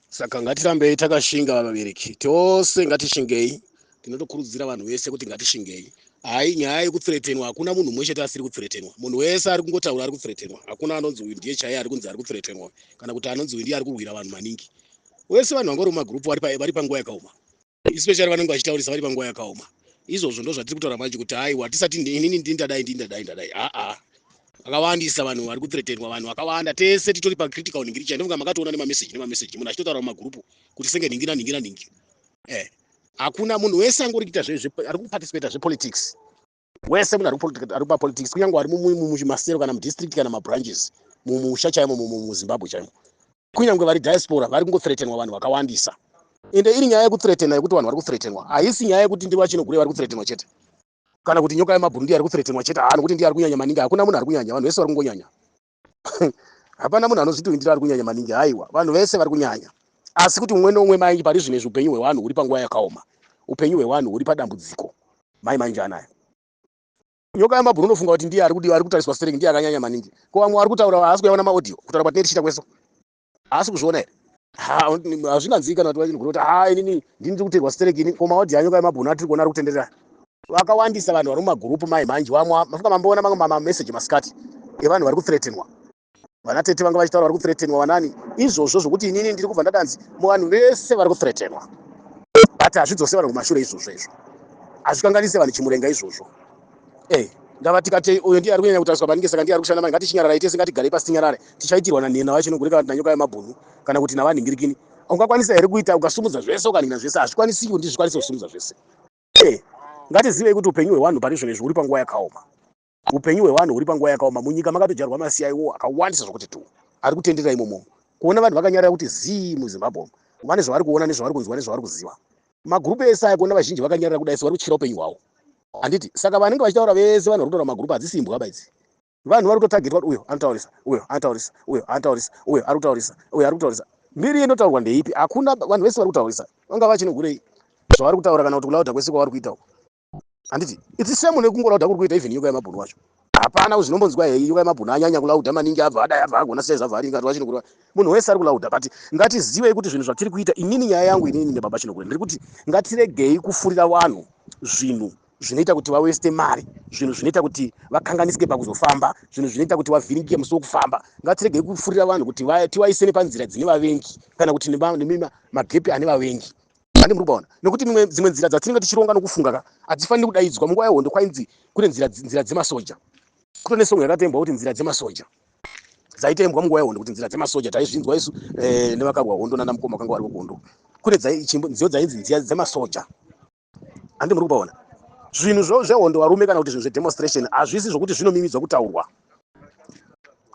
saka ngatirambei takashinga vabereki tose ngatishingei tinotokurudzira vanhu vese kuti ngatishingei hai nyaya yekutsiretenwa hakuna munhu umwe chete asiri kutsiretenwa munhu wese ari kungotaura ari kutsiretenwa hakuna anonzi uyu ndiye chaiye ari kunzi ari kutsiretenwa kana kuti anonzi uyu ndiye ari kurwira vanhu maningi wese vanhu vangori mumagurupu vari panguva yakaoma especially vanenge vachitaurisa vari panguva yakaoma izvozvo ndo zvatiri kutaura manje kuti haiwa hatisati inini ndini ndadai ndini ndadai ndadai aa vakawandisa vanhu vari kuthretenwa vanhu vakawanda tese titori pacritical ningiri chai ndofunga makatoona nemameseji nemameseji munhu achitotaura mumagurupu kuti senge nhingi nanhingi nanhingi e eh, hakuna munhu wese angori kuita ari kuparticipata zvepolitics wese munhu ari papolitics kunyange ari mumasero kana mudistrict kana mabranches mumusha chaimo muzimbabwe chaimo kunyange vari diaspora vari kungothretenwa vanhu vakawandisa ende iri nyaya yekuthretena yekuti vanhu vari kuthretenwa haisi nyaya yekuti ndi vachinogure vari kuthretenwa chete kana kuti nyoka yemabhuru ndiyo ari kuthretenwa chete haa nokuti ndiyo ari kunyanya maningi hakuna munhu ari kunyanya vanhu vese vari kungonyanya hapana munhu anozvitoindira ari kunyanya maningi haiwa vanhu vese vari kunyanya asi kuti umwe neumwe maingi pari zvino izvi upenyu hwevanhu huri panguva yakaoma upenyu hwevanhu huri padambudziko mai maingi anaya nyoka yamabhuru unofunga kuti ndiye ari kudiwa ari kutariswa stereki ndiye akanyanya maningi ko vamwe vari kutaura haasi kuyaona maaudio kutaura kwatine tichiita kweso haasi kuzviona here hazvinganzii kana tiva chinhu kuti haa inini ndini ndiri kutegwa stereki ini ko maodhi anyoka emabhunu atiri kuona ari kutenderera vakawandisa vanhu vari mumagurupu mai manje vamwe mafunga mamboona mamwe mamameseji masikati evanhu vari kuthretenwa vana tete vanga vachitaura vari kuthretenwa vanani izvozvo zvokuti inini ndiri kubva ndadanzi muvanhu vese vari kuthretenwa but hazvidzose vanhu kumashure izvozvo izvo hazvikanganise vanhu chimurenga izvozvo Hey, ndava tikatei uyo ndiye ari kunyanya kutariswa maningi saka ndiye ari kushanda maningi ngatichinyararai tese ngatigarei pasi tinyarare tichaitirwa nanhena vacho inogurika vanhu nanyoka yemabhunu kana kuti navanhingirikini ungakwanisa here kuita ukasumudza zvese ukanhina zvese hazvikwanisi kuti ndizvikwanise kusumudza zvese hey, ngatizivei kuti upenyu hwewanhu pari izvonezvi huri panguva yakaoma upenyu hwewanhu huri panguva yakaoma munyika makatodyarwa masiyaiwo akawandisa zvokuti tu ari kutenderera imomomo kuona vanhu vakanyarara kuti zii muzimbabwe umu vane zvavari kuona nezvavari kunzwa nezvavari kuziva magroup ese aya kuona vazhinji vakanyarara kudai so vari kutyira upenyu hwavo handiti saka vanenge vachitaura vese vanhu vari kutaura magroup hadzisi imbwa ba idzi vanhu vari kutotagetwa kuti uyo anotaurisa uyo anotaurisa uyo anotaurisa uyo ari kutaurisa uyo ari kutaurisa mbiri inotaurwa ndeipi hakuna vanhu vese vari kutaurisa vanga vachinohurei zvavari kutaura kana kuti kulauda kwese kwavari kuita uko handiti its same nekungolauda kuri kuita even yoga yemabhunu wacho hapana kuzvinombonzwa hei yoga yemabhunu anyanya kulauda maningi abva adai abva agona sei zvabva aringa rwa chinokura munhu wese ari kulauda but ngatizivei kuti zvinhu zvatiri kuita inini nyaya yangu inini nebaba chinokura ndiri kuti ngatiregei kufurira vanhu zvinhu zvinoita kuti vaweste mari zvinhu zvinoita kuti vakanganisike pakuzofamba zvinhu zvinoita kuti vavhiringike musi wokufamba ngatiregei kufurira vanhu kuti tivaise nepanzira dzine vavengi kana kuti nemagepi ane vavengi zvange muri kubaona nekuti mimwe dzimwe nzira dzatinenge tichironga nokufunga ka hatifaniri kudaidzwa munguva yehondo kwainzi kune nzira nzira dzemasoja kuto nesongo yakatembwa kuti nzira dzemasoja dzaitembwa munguva yehondo kuti nzira dzemasoja taizvinzwa isu eh, nevakarwa hondo nana mukoma kanga vari kuhondo kune dzaichimbo nziyo dzainzi nziya dzemasoja handi muri kubaona zvinhu zvo zvehondo varume kana kuti zvinhu zvedemonstration hazvisi zvokuti zvinomimidzwa kutaurwa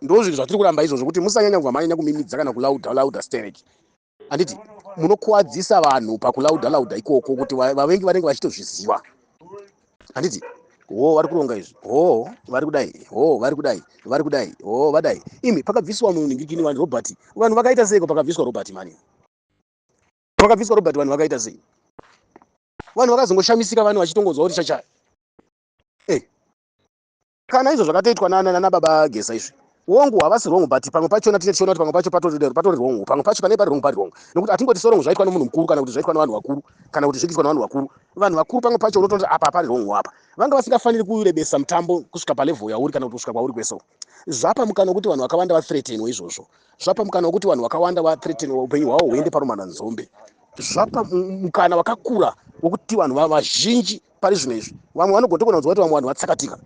ndozvinhu zvatiri kuramba izvozvo kuti musanyanya kuva manyanya kumimidza kana kulauda lauda stereki handiti munokuwadzisa vanhu pakulauda lauda ikoko kuti vavengi vanenge vachitozviziva handiti ho vari kuronga izvi ho vari kudai ho vari kudai vari kudai ho vadai imi pakabviswa muningikini wani robert vanhu vakaita seiko pakabviswa robert mani pakabviswa robert vanhu vakaita sei vanhu vakazongoshamisika vanhu vachitongonzwa kuti chachaya Kana izvo zvakatoitwa nana nana baba Geza izvi wongu havasi wrong but pamwe pachona tine tichiona kuti pamwe pacho patori patori wrong pamwe pacho pane pari wrong pari wrong nokuti hatingoti sorong zvaitwa nomunhu mukuru kana kuti zvaitwa nevanhu vakuru kana kuti zvikiitwa nevanhu vakuru vanhu vakuru pamwe pacho unotoona kuti apa hapari wrong apa vanga vasingafaniri kurebesa mutambo kusvika palevel yauri kana kuti kusvika kwauri kweso zvapa mukana wekuti vanhu vakawanda vathreatenwa izvozvo zvapa mukana wekuti vanhu vakawanda vathreatenwa upenyu hwavo huende parumana nzombe zvapa mukana wakakura wekuti vanhu vazhinji pari zvino izvi vamwe vanogona togona kunzwa kuti vamwe vanhu vatsakatika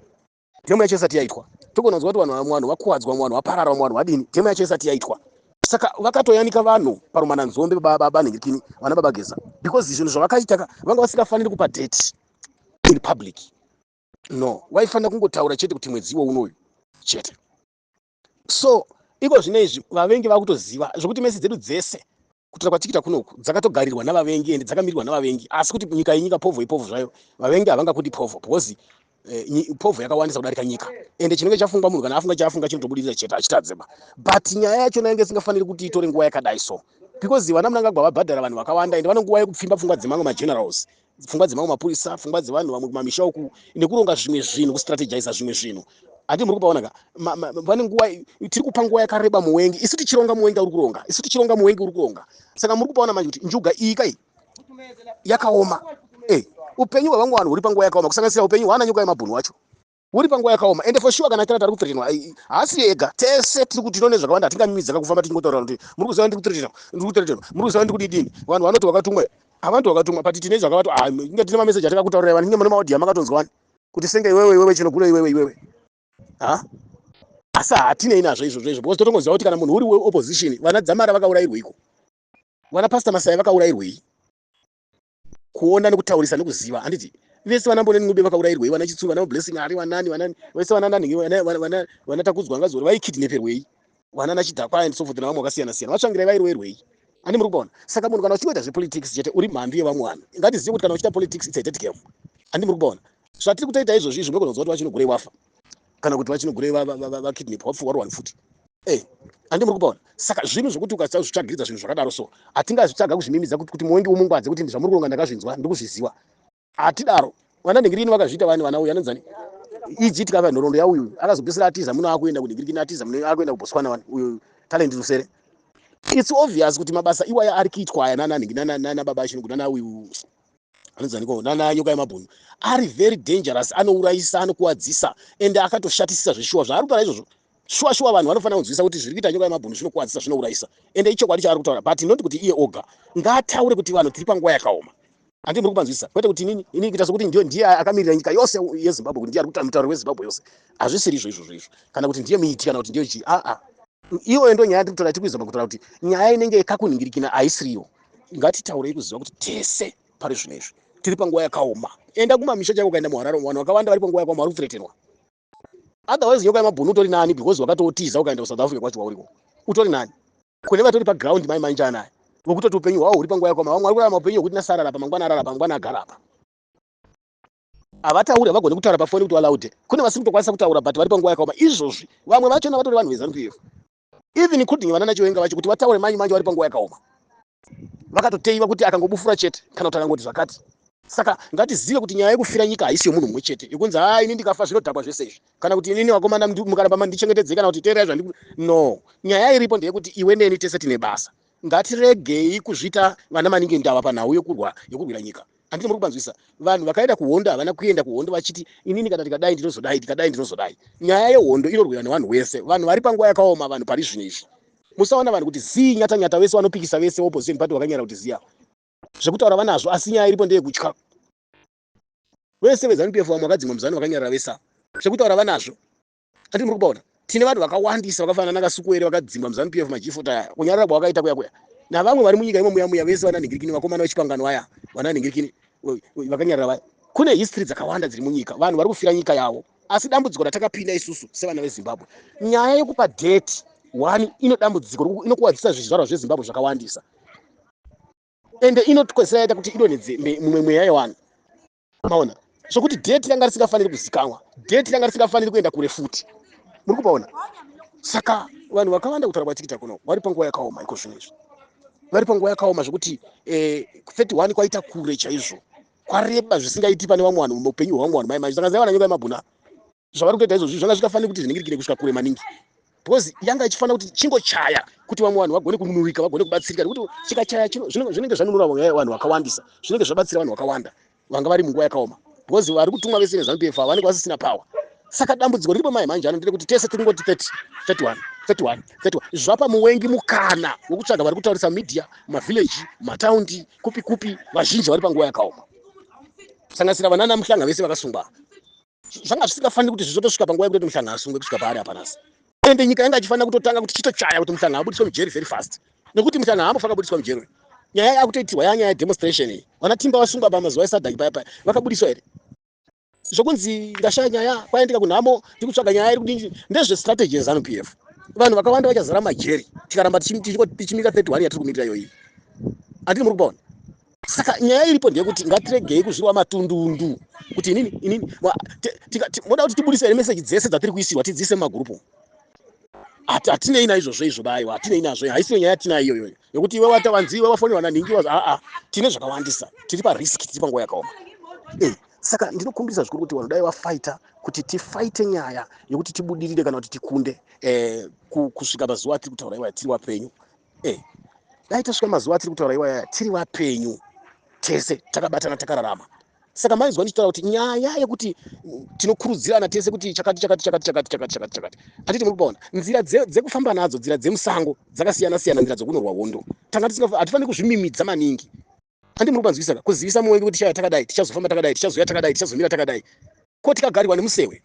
dhemo yacho isati yaitwa togona kunzwa kuti vanhu vamwe vanhu vakuwadzwa vamwe vanhu vaparara vamwe vanhu vadini dhemo yacho isati yaitwa saka vakatoyanika vanhu parumana nzombe baba nhingirikini vana baba geza because zvinhu zvavakaita ka vanga vasingafaniri kupa date in public no waifanira kungotaura chete kuti mwedzi iwo unoyu chete so iko zvino izvi vavengi vakutoziva zvokuti mesi dzedu dzese kutora kwatikita kunoku dzakatogarirwa navavengi ende dzakamirirwa navavengi asi kuti nyika yenyika povho ipovho zvayo vavengi havangakuti povho because eh, povho yakawandisa kudarika nyika ende chinenge chafungwa munhu kana afunga chaafunga chinotobudirira chete hachitadzeba but nyaya yacho nainge isingafaniri kuti itore nguva yakadai so because vana munangagwa vabhadhara vanhu vakawanda ende vanonguva yekupfimba pfungwa dzemamwe magenerals pfungwa dzemamwe mapurisa pfungwa dzevanhu vamwe kumamisha uku nekuronga zvimwe zvinhu kustrategiza zvimwe zvinhu handi muri kupaona ka pane nguva tiri kupa nguva yakareba muwengi isu tichironga muwengi uri kuronga isu tichironga muwengi uri kuronga saka muri kupaona manje kuti njuga iyi kai yakaoma e upenyu hwevangu vanhu huri panguva yakaoma kusanganisira upenyu hwaana nyoka yemabhunu wacho uri panguva yakaoma ende for sure kana kira tari kuthreatenwa haasi ye ega tese tiri kuti tinone zvakawanda hatingamimidzaka kufamba tichingotaura kuti muri kuziva ndiri kuthreatenwa ndiri kuthreatenwa muri kuziva ndiri kudidini vanhu vanoti wakatumwa havanti wakatumwa but tine zvakavato ah, inge tine mameseji atakakutaurira vanenge mune maodia makatonzwa wani kuti senge iwewe iwewe chinogura iwewe iwewe ha asi hatinei nazvo izvozvo izvo because totongoziva kuti kana munhu uri weopposition vana dzamara vakaurairweiko vana pasta masaya vakaurairwei kuona nekutaurisa nekuziva handiti vese vana mboneni ncube vakaurairwei vana chitsuru vana blessing ari vanani vanani vese vana nani vana takudzwa vanga zori vaikidneperwei vana nachidhakwa and so forth navamwe vakasiyana siyana vatsvangirai vairoerwei ani muri kubaona saka munhu kana uchingoita zvepolitics chete uri mhandu yevamwe vanhu ngatizive kuti kana uchiita politics its a dead game ani muri kubaona zvatiri kutoita izvozvi izvi unogona kuziva kuti vachinogurewafa kana kuti vachinogurei vakidnapwa vapfuwa ruwani futi e andi muri kupaona saka zvinhu zvokuti ukasazvitsvagiridza zvinhu zvakadaro so hatingazvitsvaga kuzvimimidza kuti muongi umungwadze kuti zvamuri kuronga ndakazvinzwa ndikuzviziva hatidaro vana nhingirini vakazviita vani vana uyu anonzani iji tikava nhoroondo yauyu akazopesera atiza muno akuenda kunhingirikini atiza muno akuenda kubotswana wani uyu talent rusere its obvious kuti mabasa iwaya ari kuitwa aya nananhingi nanababa chino kuti nanauyu anonzaniko nana nyoka yemabhunu ari very dangerous anourayisa anokuwadzisa ende akatoshatisisa zveshuwa zvaari kutaura izvozvo shuwa shuwa vanhu vanofanira kunzwisa kuti zviri kuita nyoka yemabhunu zvinokuwadzisa zvinourayisa ende ichokwadi chaari kutaura but not kuti iye oga ngaataure kuti vanhu tiri panguva yakaoma andi muri kupanzwisisa kwete kuti inini ini kuita sokuti ndio ndiye akamirira nyika yose yezimbabwe kuti ndiye ari kutaura mutauro wezimbabwe yose hazvisiri izvo izvozvo izvo kana kuti ndiye miiti kana kuti ndiye chii aa iyoyo ndo nyaya yatiri kutaura tiri kuizama kutaura kuti nyaya inenge yekakunhingirikina haisiriyo ngatitaurei kuziva kuti tese pari zvino izvi tiri panguva yakaoma enda kumamisha chaiko ukaenda muharare vanhu vakawanda vari panguva yakaoma vari kupfureterwa otherwise nyoka yemabhunu utori nani because wakatootiza ukaenda kusouth africa kwacho wauriko utori nani kune vatori paground mai mainja anaye vokutoti upenyu hwavo huri panguva yakaoma vamwe vari kurarama upenyu hwekuti nasarara pamangwana arara pamangwana agara apa Havatauri, havagone kutaura pafoni kuti walaude. Kune vasiri kutokwanisa kutaura but vari panguva yakaoma izvozvi. Vamwe vachona vatori vanhu veZanu PF. Even including vanana Chiwenga vacho kuti vataure manyi manje vari panguva yakaoma. Vakatoteiva kuti akangobufura chete kana kuti akangoti zvakati. Saka ngatizive kuti nyaya yekufira nyika haisi yomunhu mumwe chete yokunzi haa ini ndikafa zvinodhakwa zvese izvi kana kuti inini vakomana mukaramba mandichengetedzei kana kuti teererai zvandiri no nyaya iripo ndeyekuti iwe neni tese tine basa Ngatiregei kuzviita vana maningi ndava panhau yokurwa yokurwira nyika. Handiti muri kupanzwisisa? Vanhu vakaenda kuhondo havana kuenda kuhondo vachiti inini kana tikadai ndinozodai, tikadai ndinozodai. Nyaya yehondo inorwiwa nevanhu wese. Vanhu vari panguva yakaoma vanhu pari zvino izvi. Musaona vanhu kuti zii nyata nyata vese vanopikisa vese opposition party vakanyara kuti zii ava. Zvekutaura vanazvo asi nyaya iripo ndeyekutya. Vese veZanu PF vamwe vakadzingwa muZanu vakanyarara vese ava. Zvekutaura vanazvo. Ati muri kupaona tine vanhu vakawandisa vakafanana nakasukuwere vakadzingwa muzanu pf majifuta aya kunyarara kwavakaita kuya kuya navamwe vari munyika imo muya muya vese vananhingirikini vakomana vechipangano vaya vananhingirikini vakanyarara vaya kune history dzakawanda dziri munyika vanhu vari kufira nyika yavo asi dambudziko ratakapinda isusu sevana vezimbabwe nyaya yekupa date one ino dambudziko inokuwadzisa zvizvarwa zvezimbabwe zvakawandisa ende inotikwezera yaita kuti idonhedze mumwe mweya yevanhu maona sokuti date ranga risingafaniri kuzikanwa date ranga risingafaniri kuenda kure futi muri kupaona saka vanhu vakawanda kutaura kwatikita kuno vari panguva yakaoma iko zvinhu izvi vari panguva yakaoma zvekuti 31 eh, kwaita kure chaizvo kwareba zvisingaiti pane vamwe vanhu muupenyu hwevamwe vanhu mai manje saka zaivananyoka yemabhuna zvavari kutoita izvozvi zvanga zvichitafanira kuti zviningirikire kusvika kure maningi because yanga ichifanira kuti chingochaya kuti vamwe vanhu vagone kununurika vagone kubatsirika nekuti chikachaya chino zvinenge zvanunura vanhu vakawandisa zvinenge zvabatsira vanhu vakawanda vanga vari munguva yakaoma because vari kutumwa vese nezanu pf ava vanenge vasisina power saka dambudziko riripo mai manje ano nderekuti tese tiri ngoti 30 31 31 31 zvapa muwengi mukana wekutsvaga vari kutaurisa media mavhillaji mataundi kupi kupi vazhinji vari panguva yakaoma kusanganisira vanana muhlanga vese vakasungwa zvanga zvisingafaniri kuti zvizotosvika panguva yekutoti muhlanga asungwe kusvika paari apa nhasi ende nyika yanga ichifanira kutotanga kuti chitochaya kuti muhlanga abudiswe mujeri very fast nekuti muhlanga haambofa akabudiswa mujeri uyu nyaya yakutoitirwa yaa nyaya yedemonstration iyi vana timba vasungwa pa mazuva esadhaki paya paya vakabudiswa here zvokunzi ndashaya nyaya kwaendeka kunhamo tikutsvaga nyaya iri kudii ndezvestrategy yezanu p f vanhu vakawanda vachazara majeri tikaramba tichimira 31 yatiri kumirira iyoyi andini muri kubaona saka nyaya iripo ndeyekuti ngatiregei kuzvirwa matundundu kuti inini inini moda kuti tibudise here meseji dzese dzatiri kuisirwa tidziise mumagurupu hatinei naizvozvo izvo bayo hatinei nazvo haisiyo nyaya yatinayo iyoyo yekuti iwe wata vanzi iwe wafonerwa nanhingi wazi aa tine zvakawandisa tiri parisk tiri panguva yakaoma eh, saka ndinokumbirisa zvikuru kuti vanhu dai vafaita kuti tifaite nyaya yekuti tibudirire kana kuti tikunde eh, kusvika mazuva atiri kutaura iwaya tiri wapenyu eh dai tasvika mazuva atiri kutaura iwaya tiri vapenyu tese takabatana takararama saka maizwa ndichitaura kuti nyaya yekuti tinokurudzirana tese kuti chakati chakati chakati chakati chakati chakati chakati hatiti muri kubaona nzira dzekufamba nadzo nzira dzemusango dzakasiyana siyana nzira dzekunorwa hondo tanga hatifaniri kuzvimimidza maningi handi muri kubanzwisa ka kuzivisa muvengi kuti tichaya takadai tichazofamba takadai tichazouya takadai tichazomira takadai ko tikagarirwa nemusewe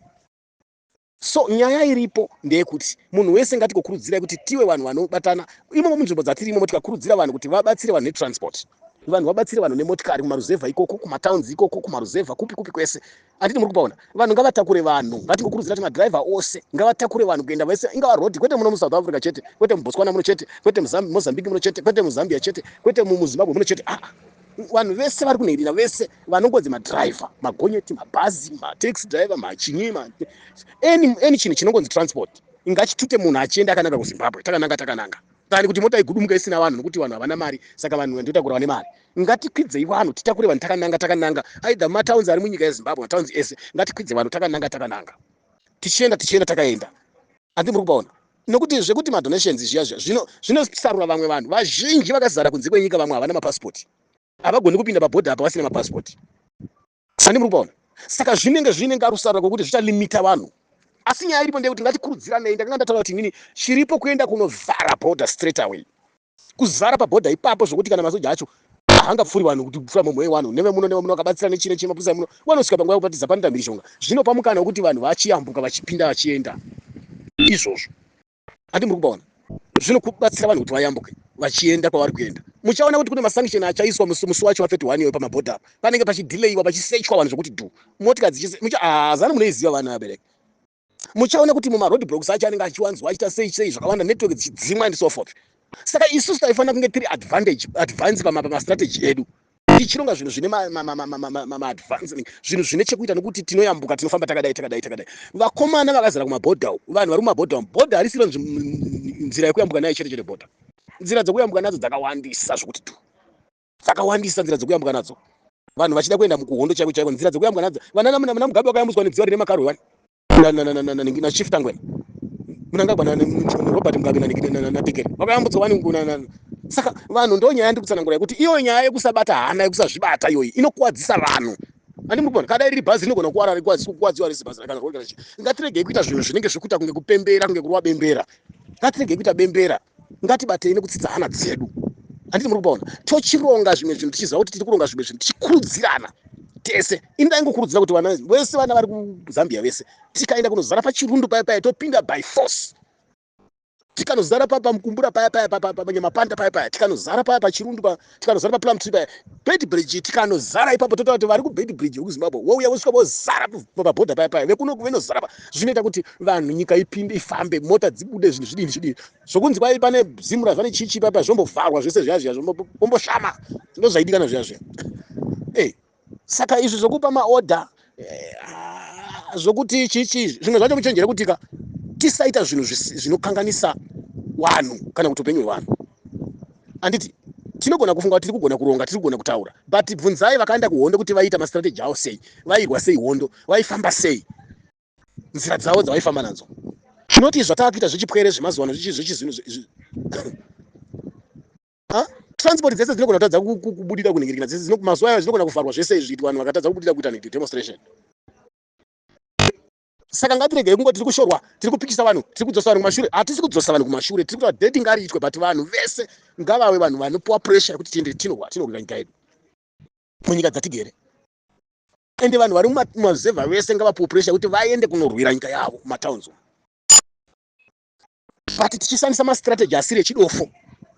So nyaya iripo ndeyekuti munhu wese ngatikokurudzirai kuti tiwe vanhu vanobatana imomo munzvimbo dzatiri imomo tikakurudzira vanhu kuti vabatsire vanhu netransport vanhu vabatsire vanhu nemotikari kumaruzevha ikoko kumatowns ikoko kumaruzevha kupi kupi kwese anditi muri kupaona vanhu ngavatakure vanhu ngatingokurudzira kuti madriver ose ngavatakure vanhu kuenda vese ingava rodi kwete muno musouth africa chete kwete mubotswana muno chete kwete mozambique muno chete kwete muzambia chete kwete muzimbabwe muno chete aa ah. vanhu vese vari kunhirira vese vanongonzi madriver magonyeti mabhazi mataxi driver machinyi any chinhu chinongonzi transport ingachitute munhu achienda akananga kuzimbabwe takananga takananga tani kuti mota igudumuka isina vanhu nokuti vanhu havana mari saka vanhu vandotakura vane mari ngatikwidzei vanhu titakure vanhu takananga takananga aidha matowns ari munyika yezimbabwe matowns ese ngatikwidze vanhu takananga takananga tichienda tichienda takaenda andi muri kupaona Nokuti zvekuti ma donations zviya zviya zvino zvinosarura vamwe vanhu vazhinji vakazara kunze kwenyika vamwe havana ma passport. Havagoni kupinda pa border apa vasina ma passport. Sandi muri kupaona. Saka zvinenge zviine ngarusarura kokuti zvicha limita vanhu. Asi nyaya iripo ndeyekuti ngatikurudziranei ndakanga ndataura kuti inini chiripo kuenda kunovhara border straight away. kuzara paborder ipapo zvokuti kana masoja acho hanga pfuri vanhu kuti pfura mumwe wewanhu neve muno neve muno akabatsira nechine chine mapurisa muno wanosvika panguva yekupatiza panoita mhirizhonga zvinopa mukana wekuti vanhu vachiyambuka vachipinda vachienda izvozvo handi muri kubaona zvinokubatsira vanhu kuti vayambuke vachienda kwavari kuenda muchaona kuti kune masanction achaiswa musi wacho wa 31 iyoyo pamabhodha apa panenge pachidileyiwa pachisechwa vanhu zvokuti du motika dzichise mucha hazana ah, munoiziva vana vabereki muchaona kuti muma road blocks acho anenge achiwanzwa achiita sei sei zvakawanda network dzichidzimwa and so forth saka isusu taifanira kunge tiri advantage advance pamastrategy edu tichironga zvinhu zvine maadvancing zvinhu zvine chekuita nokuti tinoyambuka tinofamba takadai takadai takadai vakomana vakazara kumabhodha uku vanhu vari kumabhodha umu bhodha harisiro nzira yekuyambuka nayo chete chete bhodha nzira dzekuyambuka nadzo dzakawandisa zvokuti tu dzakawandisa nzira dzekuyambwa nadzo vanhu vachida kuenda mukuhondo chaiko chaiko nzira dzekuyambwa nadzo vananamunamunamugabe vakayambuswa nenzira rine makarwe wani nashiftangwe munangagwa robert mugabe natekere vakayambutswa wani saka vanhu ndo nyaya yandi kutsanangura yekuti iyo nyaya yekusabata hana yekusazvibata iyoyi inokuwadzisa vanhu ani muri kuona kadai riri bhazi rinogona kuwara rikuwadziwa rese bhazi rakana ngatiregei kuita zvinhu zvinenge zvekuita kunge kupembera kunge kurwa bembera ngatiregei kuita bembera ngatibatei nekudzidza hana dzedu handiti muri kupaona tochironga zvimwe zvinhu tichiziva kuti tiri kuronga zvimwe zvinhu tichikurudzirana tese ini ndaingokurudzira kuti vana vese vana vari kuzambia vese tikaenda kunozara pachirundu paya paya topinda by force tikanozara pamukumbura paya paya panyamapanda paya paya tikanozara paya pachirundu pa tikanozara paplum tree paya bed bridge tikanozara ipapo totaura kuti vari kubed bridge vekuzimbabwe wouya vosvika vozara pabhodha paya paya vekuno venozara pa zvinoita kuti vanhu nyika ipinde ifambe mota dzibude zvinhu zvidini zvidini zvokunzi kwai pane zimu razvane chichi paya paya zvombovharwa zvese zviya zviya vomboshama ndo zvaidikana zviya zviya ey saka izvi zvokupa maorder eh, zvokuti chii chii zvimwe zvacho muchenjere kutika tisaita zvinhu zvinokanganisa wanhu kana kuti upenyu hwewanhu handiti tinogona kufunga kuti tiri kugona kuronga tiri kugona kutaura but bvunzai vakaenda kuhondo kuti vaiita mastrategy avo sei vairwa sei hondo vaifamba sei nzira dzavo dzavaifamba nadzo tinoti zvatava kuita zvechipwere zvemazuva ano zvechizinhu transport dzese dzinogona kutadza kubudira kunhingirikina dzese mazuva ayo zvinogona kuvharwa zvese izvi kuti vanhu vakatadza kubudira kuita nhindi demonstration saka ngatiregei kungo tiri kushorwa tiri kupikisa vanhu tiri kudzosa vanhu kumashure hatisi kudzosa vanhu kumashure tiri kutaa dedi ngariitwe but vanhu vese ngavave vanhu vanopiwa pressure yekuti tiende tinowa tinorwira nyika yedu munyika dzatigere ende vanhu vari mumazevha vese ngavapiwe pressure yekuti vaende kunorwira nyika yavo mumatowns umu but tichishandisa mastrategy asiri echidofo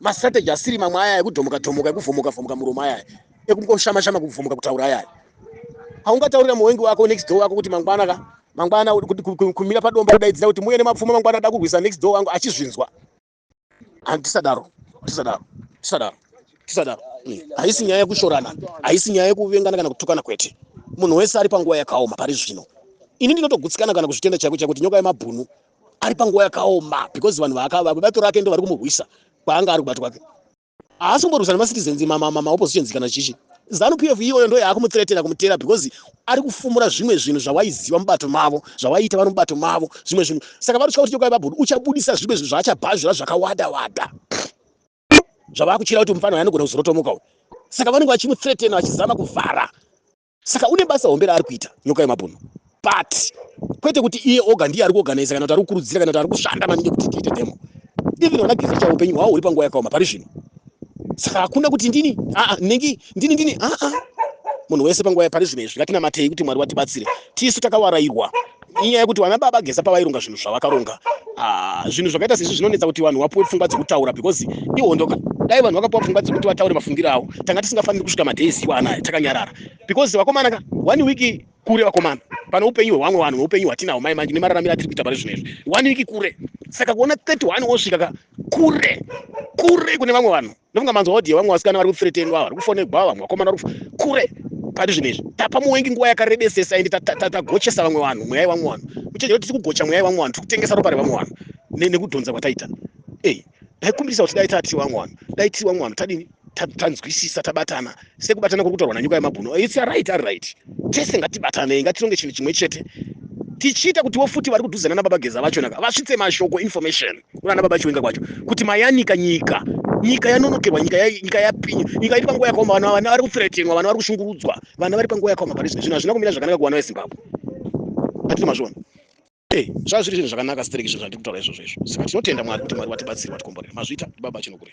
mastrategy asiri mamwe aya ekudhomoka dhomoka ekuvhomoka vhomoka muromo ayaya ekungoshama shama kuvhomoka kutaura ayaya haungataurira muwengi wako next door wako kuti mangwana ka mangwana kumira padomba kudaidzira kuti muye nemapfuma mangwana ada kurwisa next door wangu achizvinzwa handisadaro tisadaro tisadaro tisadaro hmm. haisi nyaya yekushorana haisi nyaya yekuvengana kana kutukana kwete munhu wese ari panguva yakaoma pari zvino ini ndinotogutsikana kana kuzvitenda chaiko chaiko kuti nyoka yemabhunu ari panguva yakaoma because vanhu vaakava vebato rake ndo vari kumurwisa kwaanga ari kubato kwake haasi kumborwisana macitizens maoppositions kana chichi zanu p f iyoyo ndo yaakumuteretera kumutera because ari kufumura zvimwe zvinhu zvawaiziva mubato mavo zvawaiita vari mubato mavo zvimwe zvinhu saka vanotya kuti chokwai vabhudu uchabudisa zvimwe zvinhu zvaachabhazvira zvakawada wada zvavakutyira kuti mufana uyo anogona kuzorotomuka uyo saka vanenge vachimuteretena vachizama kuvhara Saka une basa hombe raari kuita nyoka yemabhunu but kwete kuti iye oga ndiye ari kuorganiza kana kuti ari kukurudzira kana kuti ari kushanda maningi kuti tiite demo even vana geza chavo upenyu hwavo huri panguva yakaoma pari zvino saka hakuna kuti ndini aa ndinenge ndini ndini aa munhu wese panguva pari zvino izvi ngatinamatei kuti mwari watibatsire tisu takawarairwa inyaya yekuti vana baba geza pavaironga zvinhu zvavakaronga ah, zvinhu zvakaita sezvi zvinonetsa kuti vanhu vapuwe pfungwa dzekutaura because ihondo ka dai vanhu vakapuwa pfungwa dzekuti vataure mafungiro avo tanga tisingafaniri kusvika madays iwa anaya takanyarara because vakomana ka one week kure vakomana pane upenyu hwevamwe vanhu neupenyu hwatinahwo mai manje nemararamiro atiri kuita pane zvinhu izvi one week kure saka kuona 31 wosvika ka kure kure kune vamwe vanhu ndofunga manzwa audio vamwe vasikana vari kuthreatenwa vari kufonegwa vamwe vakomana vari kure pati zvinhu izvi tapa muwengi nguva yakarebesesa ende tagochesa vamwe vanhu mweya yevamwe vanhu kuchenjera kuti tikugocha mweya yevamwe vanhu tiri kutengesa ropa revamwe vanhu nekudhonza kwataita ei ndaikumbirisa kuti dai tati vamwe vanhu dai tiri vamwe vanhu tadini tanzwisisa tabatana sekubatana kuri kutaurwa nanyuka yemabhunu its aright ari right tese ngatibatanei ngatironge chinhu chimwe chete tichiita kutiwo futi vari kudhuzana nababa geza vacho naka vasvitse mashoko information kunana baba chiwenga kwacho kuti mayanika nyika nyika yanonokerwa nyika nyika yapinya nyika iri panguva yakaoma vana vana vari kuthretenwa vana vari kushungurudzwa vana vari panguva yakaoma pane zvinhu zvinhu hazvina kumira zvakanaka kuvana vezimbabwe atiti mazviona eh, zvazviri zvinhu zvakanaka stereki izvo zvandiri kutaura izvozvo izvo saka tinotenda mwari kuti mwari watibatsiri watikomborera mazvita baba chinokure